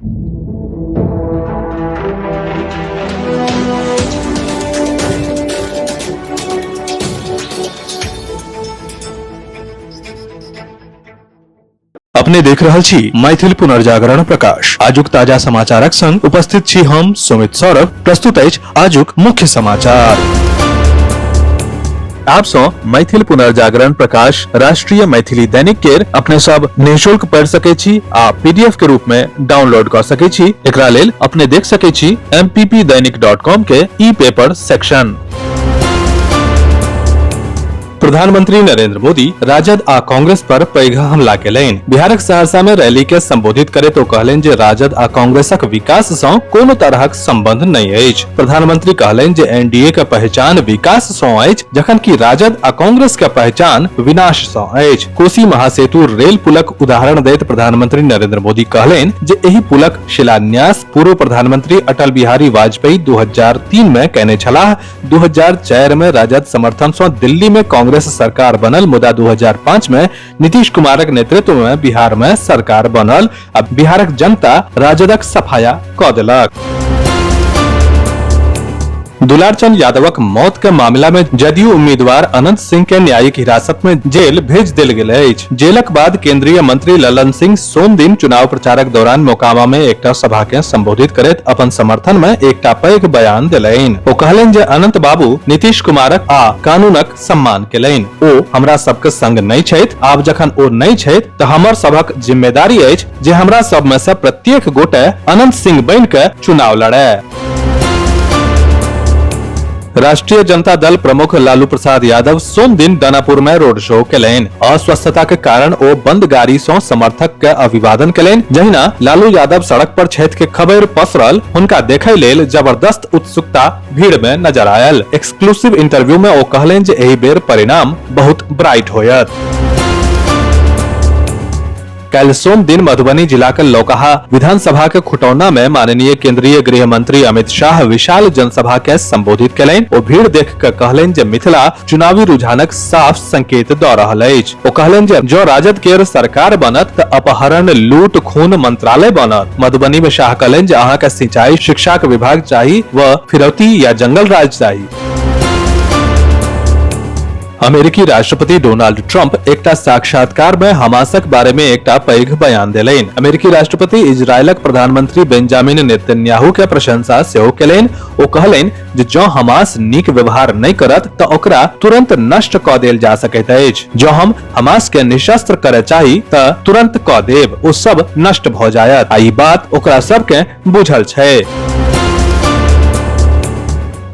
अपने देख रहल छी मैथिल पुनर्जागरण प्रकाश आजुक ताजा समाचारक संग उपस्थित छी हम सुमित सौरभ प्रस्तुत अछि आजुक मुख्य समाचार आप सो मैथिल पुनर्जागरण प्रकाश राष्ट्रीय मैथिली दैनिक केर अपने सब निशुल्क पढ़ सके छी आ पीडीएफ के रूप में डाउनलोड कर सके छी एकरा लेल अपने देख सके छी mppdainik.com के ई पेपर सेक्शन प्रधानमंत्री नरेंद्र मोदी राजद आ कांग्रेस पर पैघ हमला केलनि बिहारक सहरसा में रैली के संबोधित करैत ओ कहलनि जे राजद आ कांग्रेसक विकास सँ कोनो तरहक संबंध नहि अछि प्रधानमंत्री कहलनि जे एनडीए के पहचान विकास सँ अछि जखन कि राजद आ कांग्रेस के पहचान विनाश सँ अछि कोसी महासेतु रेल पुलक उदाहरण दैत प्रधानमंत्री नरेंद्र मोदी कहलनि जे एहि पुलक शिलान्यास पूर्व प्रधानमंत्री अटल बिहारी वाजपेयी 2003 में कयने छलाह 2004 में राजद समर्थन से दिल्ली में कांग्रेस सरकार बनल मुदा 2005 में नीतीश कुमारक नेतृत्व में बिहार में सरकार बनल अब बिहारक जनता राजदक सफाया क देलक दुलारचंद यादवक मौत के मामला में जदयू उम्मीदवार अनंत सिंह के न्यायिक हिरासत में जेल भेज देल गेल अछि जेलक बाद केंद्रीय मंत्री ललन सिंह सोम दिन चुनाव प्रचारक दौरान मोकामा में एकटा सभा के संबोधित करैत अपन समर्थन में एकटा पैघ बयान देलनि ओ कहलनि जे अनंत बाबू नीतीश कुमारक आ कानूनक सम्मान केलनि ओ हमरा सबके संग नहि छथि आब जखन ओ नहि छथि तऽ हमर सभक जिम्मेदारी अछि जे हमरा सब में से प्रत्येक गोटे अनंत सिंह बनि के चुनाव लड़े राष्ट्रीय जनता दल प्रमुख लालू प्रसाद यादव सोम दिन दानापुर में रोड शो केलनि अस्वस्थता के कारण ओ बंद गाड़ी सं समर्थक के अभिवादन केलनि जहिना लालू यादव सड़क पर छथि के खबर पसरल हुनका देखय लेल जबरदस्त उत्सुकता भीड़ में नजर आयल एक्सक्लूसिव इंटरव्यू में ओ कहलनि जे एहि बेर परिणाम बहुत ब्राइट होयत कल सोम दिन मधुबनी जिला के लौकहा विधानसभा के खुटौना में माननीय केंद्रीय गृह मंत्री अमित शाह विशाल जनसभा के संबोधित कयलनि ओ भीड़ देख के कहलनि जे मिथिला चुनावी रुझानक साफ संकेत दऽ रहल अछि ओ कहलनि जे जँ राजद केर सरकार बनत तऽ अपहरण लूट खून मंत्रालय बनत मधुबनी में शाह कहलनि जे अहाँके सिंचाई शिक्षाक विभाग चाही व फिरौती या जंगल राज चाही अमेरिकी राष्ट्रपति डोनाल्ड ट्रंप एकटा साक्षात्कार में हमासक बारे में एकटा पैघ बयान देलनि अमेरिकी राष्ट्रपति इजरायलक प्रधानमंत्री बेंजामिन नेतन्याहू के प्रशंसा सेहो केलनि ओ कहलनि जे जँ हमास नीक व्यवहार नहि करत तऽ ओकरा तुरंत नष्ट कऽ देल जा सकैत अछि जँ हम हमास के निशस्त्र करय चाही तऽ तुरंत कऽ देब ओ सब नष्ट भऽ जायत आ ई बात ओकरा सबके बुझल छै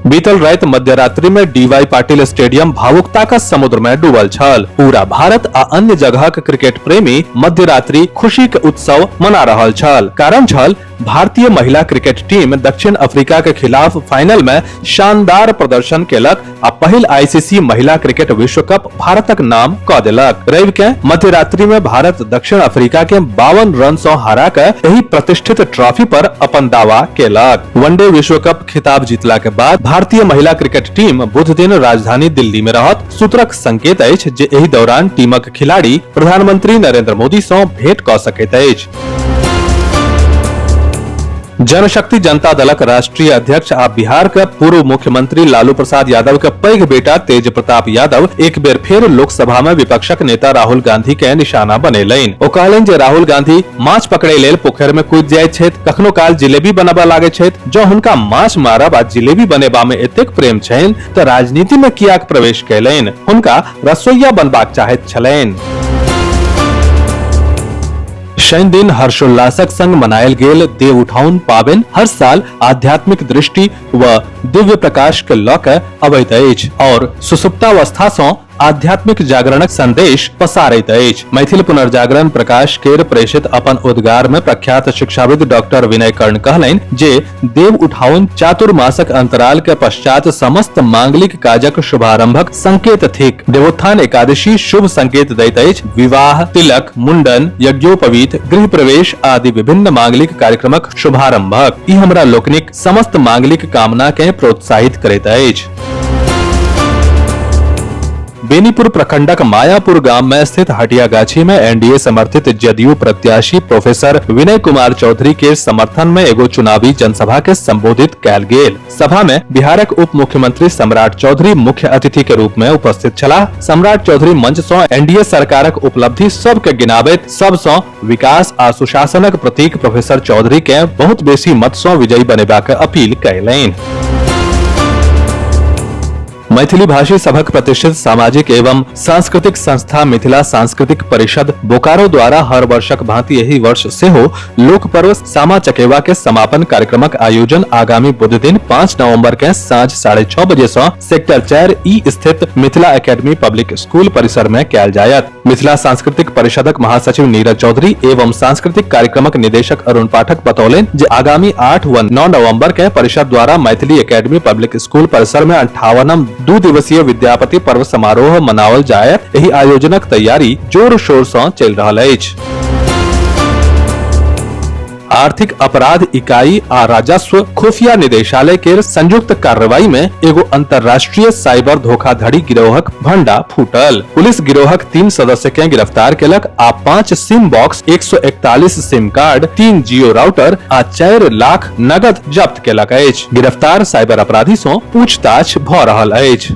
बीतल राति मध्यरात्रि में डीवाई पाटिल स्टेडियम भावुकता का समुद्र में डूबल छल पूरा भारत आ अन्य जगह के क्रिकेट प्रेमी मध्यरात्रि खुशी के उत्सव मना रहल छल कारण छल भारतीय महिला क्रिकेट टीम दक्षिण अफ्रीका के खिलाफ फाइनल में शानदार प्रदर्शन केलक आ पहिल आईसीसी महिला क्रिकेट विश्व कप भारतक नाम क देलक रवि के मध्यरात्रि में भारत दक्षिण अफ्रीका के बावन रन सौ हरा के एही प्रतिष्ठित ट्रॉफी पर अपन दावा केलक वनडे विश्व कप खिताब जीतला के बाद भारतीय महिला क्रिकेट टीम बुध दिन राजधानी दिल्ली में रहत सूत्रक संकेत अछि जे एहि दौरान टीमक खिलाड़ी प्रधानमंत्री नरेंद्र मोदी सं भेंट क सकैत अछि जनशक्ति जनता दलक राष्ट्रीय अध्यक्ष आ बिहार के पूर्व मुख्यमंत्री लालू प्रसाद यादव के पैघ बेटा तेज प्रताप यादव एक बेर फेर लोकसभा में विपक्षक नेता राहुल गांधी के निशाना बनेलनि ओ कहलनि जे राहुल गांधी माछ पकड़े लेल पोखरि में कूदि जाइत छथि कखनो काल जिलेबी बनबय लागैत छथि जँ हुनका माछ मारब आ जिलेबी बनेबा में एतेक प्रेम छनि तऽ राजनीति में कियाक प्रवेश कयलनि हुनका रसोइया बनबाक चाहैत छलनि शनि दिन हर्षोल्लासक संग मनायल गेल देव उठाउन पाबनि हर साल आध्यात्मिक दृष्टि व दिव्य प्रकाश के लऽ कऽ अबैत अछि और सुसुप्तावस्था सँ आध्यात्मिक जागरणक संदेश पसारैत अछि मैथिल पुनर्जागरण प्रकाश केर प्रेषित अपन उद्गार में प्रख्यात शिक्षाविद डॉक्टर विनय कर्ण कहलनि जे देव उठाउन चातुर्मासक अंतराल के पश्चात समस्त मांगलिक काजक शुभारंभक संकेत थिक देवोत्थान एकादशी शुभ संकेत दैत अछि विवाह तिलक मुंडन यज्ञोपवीत गृह प्रवेश आदि विभिन्न मांगलिक कार्यक्रमक शुभारंभक ई हमरा लोकनिक समस्त मांगलिक कामना के प्रोत्साहित करैत अछि बेनीपुर प्रखंडक मायापुर गांव में स्थित हटिया गाछी में एनडीए समर्थित जदयू प्रत्याशी प्रोफेसर विनय कुमार चौधरी के समर्थन में एगो चुनावी जनसभा के संबोधित कैल गेल सभा में बिहारक उप मुख्यमंत्री सम्राट चौधरी मुख्य अतिथि के रूप में उपस्थित छलाह सम्राट चौधरी मंच सं एनडीए सरकारक उपलब्धि सब के गिनाबैत सब सं विकास आ सुशासनक प्रतीक प्रोफेसर चौधरी के बहुत बेसी मत सं विजयी बनेबाक अपील कयलनि मैथिली भाषी सभक प्रतिष्ठित सामाजिक एवं सांस्कृतिक संस्था मिथिला सांस्कृतिक परिषद बोकारो द्वारा हर वर्षक भांति एहि वर्ष सेहो लोक पर्व सामा चकेवा के समापन कार्यक्रमक आयोजन आगामी बुध दिन पाँच नवम्बर के साँझ साढ़े छओ बजे से सेक्टर चार ई स्थित मिथिला एकेडमी पब्लिक स्कूल परिसर में कयल जायत मिथिला सांस्कृतिक परिषदक महासचिव नीरज चौधरी एवं सांस्कृतिक कार्यक्रमक निदेशक अरुण पाठक बतौलनि जे आगामी आठ व नौ नवम्बर के परिषद द्वारा मैथिली एकेडमी पब्लिक स्कूल परिसर में अंठावनम दू दिवसीय विद्यापति पर्व समारोह मनाओल जायत एहि आयोजनक तैयारी जोर शोर से चल रहा है आर्थिक अपराध इकाई आ राजस्व खुफिया निदेशालय के संयुक्त कार्रवाई में एगो अंतर्राष्ट्रीय साइबर धोखाधड़ी गिरोहक भंडा फूटल पुलिस गिरोहक तीन सदस्य के गिरफ्तार केलक आ पाँच सिम बॉक्स 141 सिम कार्ड तीन जियो राउटर आ चार लाख नगद जब्त केलक अछि गिरफ्तार साइबर अपराधी सो पूछताछ भ रहल अछि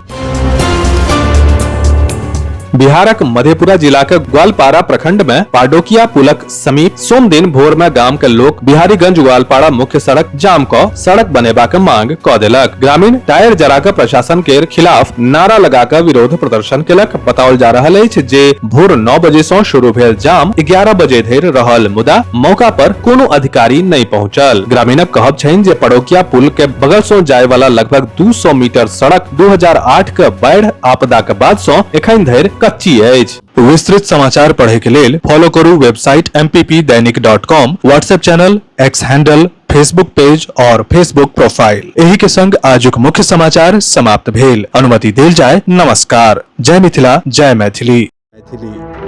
बिहारक मधेपुरा जिलाक ग्वालपारा प्रखंड में पाडोकिया पुलक समीप सोम दिन भोर में गाम के लोग बिहारीगंज ग्वालपाड़ा मुख्य सड़क जाम क सड़क बनेबा के मांग क देलक ग्रामीण टायर जरा के प्रशासन के खिलाफ नारा लगा के विरोध प्रदर्शन केलक बताओल जा रहल अछि जे भोर नौ बजे से शुरू भेल जाम ग्यारह बजे धरि रहल मुदा मौका पर कोनो अधिकारी नहि पहुंचल ग्रामीणक कहब छनि जे पड़ोकिया पुल के बगल से जाय वाला लगभग 200 मीटर सड़क 2008 के बाढ़ि आपदा के बाद से एखन धरि कच्ची अछि विस्तृत समाचार पढ़े के लेल फॉलो करू website M P P Dainik dot com WhatsApp channel X handle Facebook page और फेसबुक प्रोफाइल एही के संग आजुक मुख्य समाचार समाप्त भेल अनुमति देल जाय नमस्कार जय मिथिला जय मैथिली मैथिली